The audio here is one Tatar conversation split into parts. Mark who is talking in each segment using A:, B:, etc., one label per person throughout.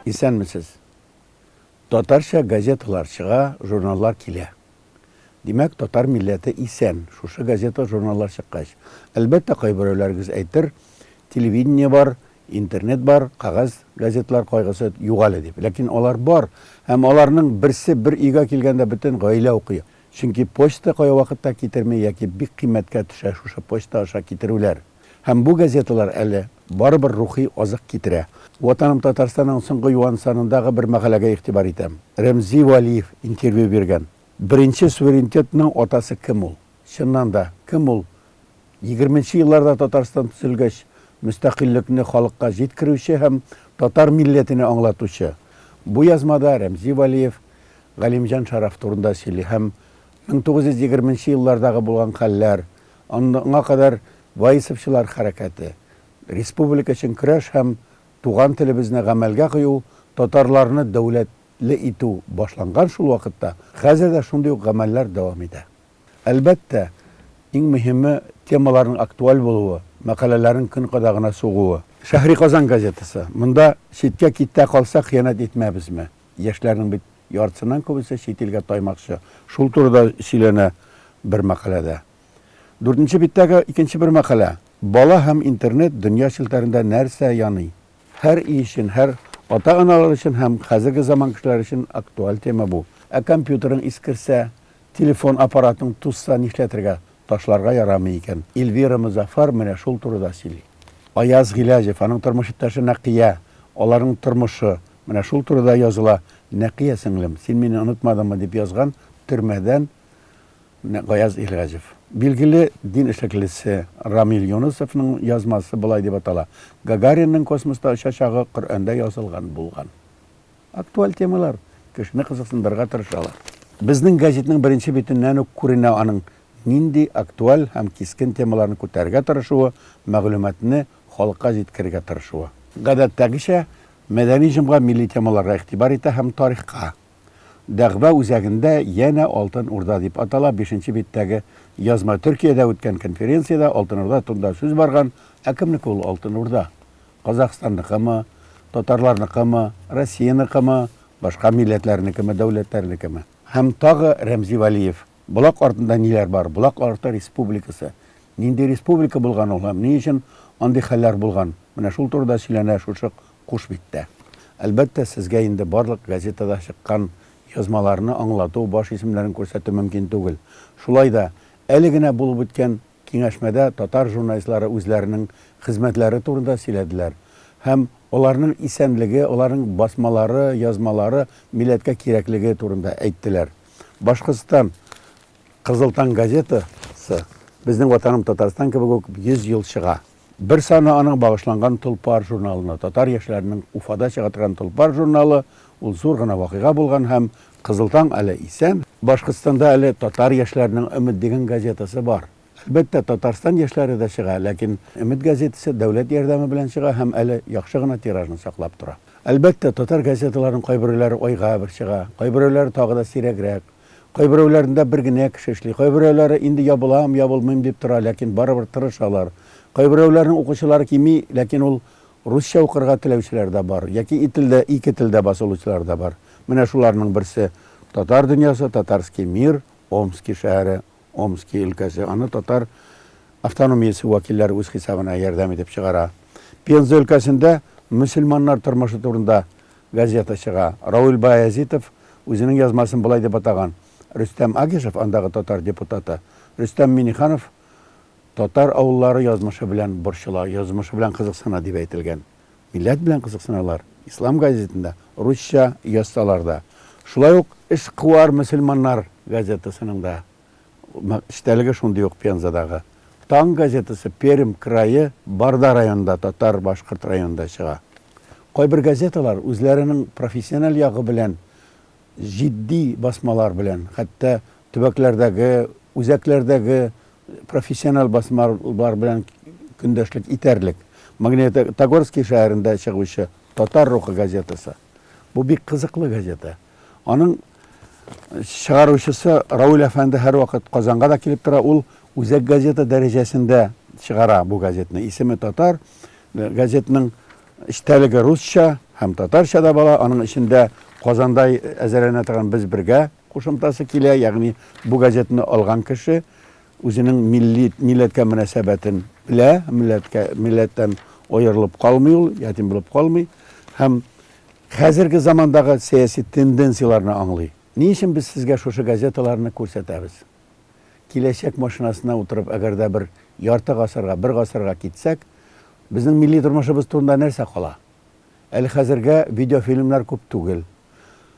A: Исәнмесез! Татарча газеталар чыга, журналлар килә. Димәк, татар милләте исән, шушы газета-журналлар чыккач. Әлбәттә, кайберәүләрегез әйтер, телевидение бар, интернет бар, кәгазь газеталар кайгысы юк әле дип. Ләкин алар бар, һәм аларның берсе бер өйгә килгәндә бөтен гаилә укый. Чөнки почта кая вакытта китерми яки бик кыйммәткә төшә шушы почта аша китерүләр. Һәм бу газеталар әле барыбер рухи азык китерә. Ватаным Татарстанның соңгы юан санындагы бер мәкаләгә игътибар итәм. Рәмзи Вәлиев интервью биргән. Беренче суверенитетның атасы кем ул? Чыннан да, кем ул Егерменче елларда Татарстан төзелгәч, мөстәкыйльлекне халыкка җиткерүче һәм татар милләтене аңлатучы бу язмада Рәмзи Вәлиев Галимҗан Шараф турында сөйли һәм 1920 еллардагы булган хәлләр, аңа кадәр ваисовчылар хәрәкәте, республика өчен көрәш һәм туган телебезне гамәлгә кую, татарларны дәүләтле итү башланган шул вакытта, хәзер дә шундый ук гамәлләр дәвам итә. Әлбәттә, иң мөһиме, темаларның актуаль булуы, мәкаләләрнең көн кадагына сугуы. Шәһри Казан газетасы. Монда читкә китә калса, хыянәт итмәбезме? Яшьләрнең бит яртысыннан күбесе чит илгә таймакчы. Шул турыда сөйләнә бер мәкаләдә. Дүртенче биттәге икенче бер мәкалә, Бала һәм интернет, дөнья челтәрендә нәрсә яный? Һәр өй өчен, һәр ата-аналар өчен һәм хәзерге заман кешеләре өчен актуаль тема бу. Ә компьютерың искерсә? Телефон аппаратын тузса нишләтергә, ташларга ярамый икән. Эльвира Мозафар менә шул турыда сөйли. Аяз Гыйләҗев, аның тормыш иптәше Нәкыя, аларның тормышы, менә шул турыда языла. Нәкыя сеңлем, син мине онытмадыңмы, дип язган төрмәдән Гаяз Илгәҗев. Билгеле дин эшлеклесе Рамил Юнысовның язмасы болай дип атала, Гагаринның космоста очачагы Коръәндә язылган булган. Актуаль темалар кешене кызыксындырырга тырышалар. Безнең газетның беренче битеннән үк күренә аның нинди актуаль һәм кискен темаларны күтәрергә тырышуы, мәгълүматны халыкка җиткерергә тырышуы. Гадәттәгечә, Мәдәни җомга милли темаларга игътибар итә һәм тарихка. Дәгъва үзәгендә янә Алтын Урда дип атала бишенче биттәге язма Төркиядә үткән конференциядә Алтын Урда турында сүз барган, ә кемнеке ул Алтын Урда? Казахстанныкымы, татарларныкымы, Россияныкымы, башка милләтләрнекеме, дәүләтләрнекеме? Һәм тагы Рәмзи Вәлиев. Болак артында ниләр бар? Болак арты республикасы. Нинди республика булган ул һәм ни өчен андый хәлләр булган? Менә шул турыда сөйләнә шушы куш биттә. Әлбәттә, сезгә инде барлык газетада чыккан язмаларны аңлату, баш исемнәрен күрсәтү мөмкин түгел. Шулай да, әле генә булып үткән Киңәшмәдә татар журналистлары үзләренең хезмәтләре турында сөйләделәр һәм аларның исәнлеге, аларның басмалары, язмалары милләткә кирәклеге турында әйттеләр. Башкортстан, Кызыл таң газетасы, Безнең Ватаным Татарстан кебек үк 100 ел чыга. Бер саны аның багышланган Толпар журналына. Татар яшьләренең Уфада чыга торган Толпар журналы, ул зур гына вакыйга булган һәм Кызыл таң әле исән. Башкортстанда әле Татар яшьләренең Өмет дигән газетасы бар. Әлбәттә, Татарстан яшьләре дә чыга, ләкин Өмет газетасы дәүләт ярдәме белән чыга һәм әле яхшы гына тиражны саклап тора. Әлбәттә, татар газеталарының кайберәүләре айга бер чыга, кайберәүләре тагы да сирәгрәк. Кайберәүләрендә бер генә кеше эшли. Кайберәүләре инде ябылам, ябылмыйм дип тора, ләкин барыбер тырышалар. Кайберәүләрнең укучылары кими, ләкин ул русча укырга теләүчеләр дә бар, яки и телдә, ике телдә басылучылар да бар. Менә шуларның берсе, Татар дөньясы, Татарский мир, Омски шәһәре, Омски өлкәсе. Аны татар автономиясе вәкилләре үз хисабына ярдәм итеп чыгара. Пенза өлкәсендә мөселманнар тормышы турында Газета чыга. Рауль Баязитов үзенең язмасын болай дип атаган, Рөстәм Агишев, андагы татар депутаты, Рөстәм Миңнеханов татар авыллары язмышы белән борчыла, язмышы белән кызыксына, дип әйтелгән. Милләт белән кызыксыналар, Ислам газетында русча язсалар да. Шулай ук Эшкуар мөселманнар газетасының да. Эчтәлеге шундый ук Пензадагы Таң газетасы Пермь крае Барда районында татар-башкорт районында чыга. Кайбер газеталар үзләренең профессиональ ягы белән җитди басмалар белән, хәтта төбәкләрдәге, үзәкләрдәге профессиональ басмалар белән көндәшлек итәрлек. Магнитогорский шәһәрендә чыгучы Татар рухы газетасы. Бу бик кызыклы газета. Аның чыгаручысы Рауль әфәнде һәрвакыт Казанга да килеп тора. Ул үзәк газета дәрәҗәсендә чыгара бу газетны. Исеме татар, газетның эчтәлеге русча һәм татарча да бала. Аның эчендә Казанда әзерләнә торган без бергә кушымтасы килә, ягъни бу газетны алган кеше үзенең милли милләткә мөнәсәбәтен белә, милләткә милләттән аерылып калмый ул, ятим булып калмый һәм Хәзерге замандагы сәяси тенденцияләрне аңлый. Ни өчен без сезгә шушы газеталарны күрсәтәбез? Киләчәк машинасына утырып, әгәр дә бер ярты гасырга, бер гасырга китсәк, безнең милли тормышыбыз турында нәрсә кала? Әле хәзергә видеофильмнар күп түгел.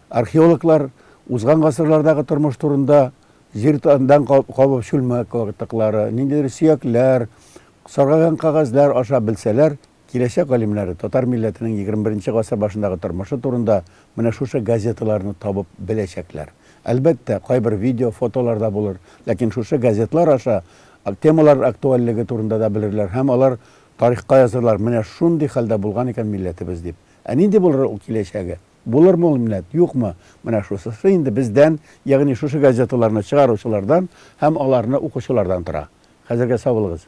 A: Археологлар узган гасырлардагы тормыш турында җир дан кабып чүлмәк катыклары, ниндидер сөякләр, саргайган кәгазьләр аша белсәләр, Киләчәк галимнәре татар милләтенең егерме беренче гасыр башындагы тормышы турында менә шушы газеталарны табып беләчәкләр. Әлбәттә, кайбер видео, фотолар да булыр, ләкин шушы газетлар аша темалар актуальлеге турында да белерләр һәм алар тарихка язырлар, менә шундый хәлдә булган икән милләтебез дип. Ә нинди булыр ул киләчәге? Булырмы ул минәт, юкмы? Менә шусысы инде бездән, ягъни шушы газеталарны чыгаручылардан һәм аларны укучылардан тора. Хәзергә сау булыгыз!